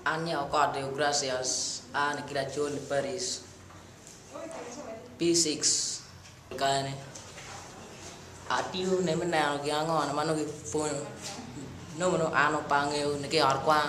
An nyako kot Deogratias aa nikiri acol i Paris P6 kane atiyo ne me neno gin ango ma nongo kipwonyo nongo an pe angeyo ni ki ot kwan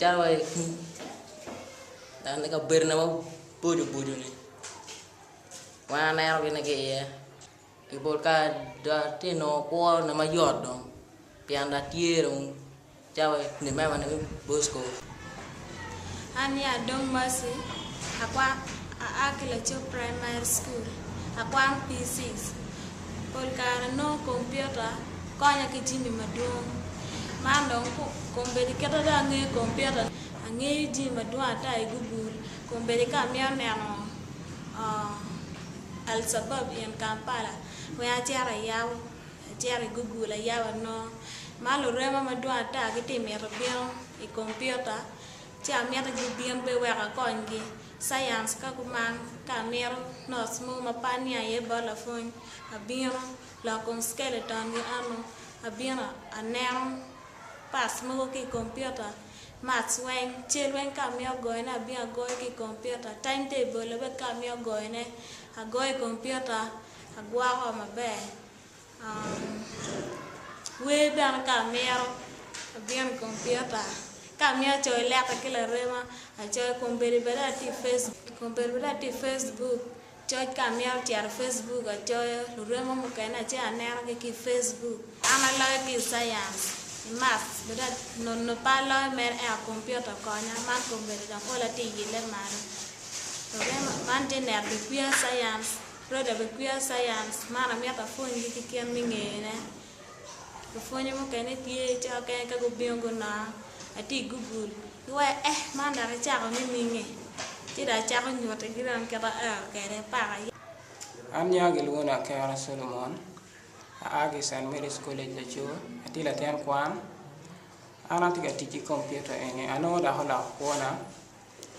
Calo wa i kin dan i kabedona maboco boco-ni wan aneno gin ni ki iye pi pol kare dong atye ka nongo kwona mayot dong pien dong atye dong calo wa i kin memane me Bosco. An aye Adong Mercy aa ki Lacoo Primary School akwano PC. pol kare nongo kompiuta konya ki jami madwong. Man dong kombeddi kite dong angeyo kompiuta ni angeyo jami madwong ata i Google kombeddi ka amito neno Alshabab in Kampala weng acito ayabo acito i Google ayabo anongo. Ma lurema madwong ata gitye ka mito bino i kompiuta ci amito gibin bene wek akonygi. Science ka gumang ka amito notes mo ma pania aye bot lapwony abino lok kom skeleton gi ano abino aneno parts mogo ki computer maths weng cal weng ka amito goyo ne abino agoyo ki computer time table bene ka amito goyo ne agoyo i computer agwoko maber. Wer bene ka amito abino i kompiuta ka amito coyo leka ki larema acoyo kun bedo bene atye i Facebook kun bedo bene atye i Facebook coc ka amito cito i Facebook acoyo luremo mukene ace anenogi ki i Facebook an aloyo ki i Science ki Math bene nono pe aloyo mere ento kompiuta okonya man kompiuta dok pol atye yelle malo man tye neno bipia Science Roda bed kwiya science man amito apwony gi ki kit me ngeyone lapwonye mukene tye cika okene ka gubino gunonga atye i google gi waya ehh man dok icako nininge ci dong acako nyuti gi dong kit ma aero kwede paka yat. An nyinga gilwongo ni Akero Solomon aa ki i Saint Mary's College Lacoo atye latin kwan an atye ka tic ki kompiuta eni anongo dok oloko kwona.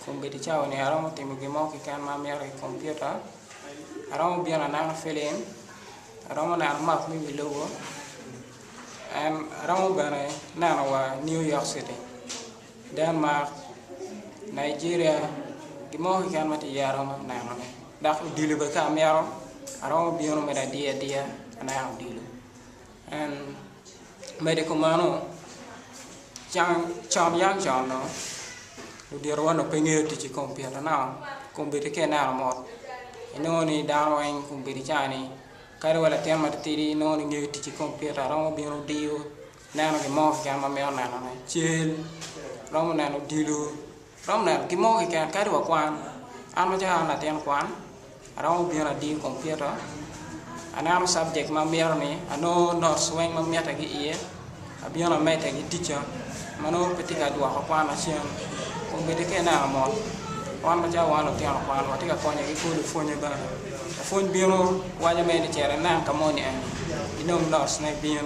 Kombeddi cawa-ni aromo timo gin mo keken ma amito i kompiuta, aromo bino aneno filim, aromo neno map me wi lobo, aromo bene neno wa New York City, Denmark, Nigeria, gin mo keken ma tye iye aromo nenone dok odilo bene ka amito aromo bino me ladiya adiya aneno odilo. En medo ki meno, con yam con-nu, oditowa onongo pe ngeyo tic ki komupiuta naka komupiuta ka ineno mot inongo ni dano weng komupiuta i caa-ni kadi wa latin matitidi inongo ni ngeyo tic ki komupiuta romo bino diyo neno gin mo keken ma mito nenone, cal, romo neno odilo. Thumbnail, Gin mogo keken kadi wa kwan, an macalo an latin kwan, aromo bino adiyo i kompiuta, aneno subject ma amito ni, anongo notes weng ma mitte ki iye, abino amedde ki tica ma nongo pe tye ka dwoko kwana cen. Kun bedi ka ineno mot, wan macalo wan lutino kwan watye ka konyo ki kwo lupwonye bene. Lapwony bino waco mere ni cito inen ka moni en, inong notes ne bin.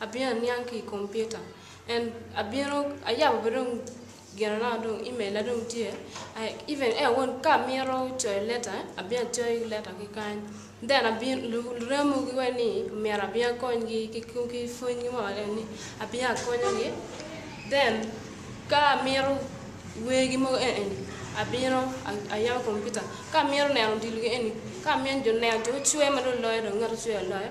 Abino aniang ki i kompiuta and abino ayabo bene dong ginana dong email na dong tye even en aye ka amito coyo leta abino acoyo ki leta ki kany then luram mogo weng ni myero abin akonygi ki pwony mo ni abino akonyogi then ka amito wergi mogo eni abino ayabo kompiuta ka amito neno odilo eni ka amyero neno jo gucwer ma dong loyo ngat ocwer loyo.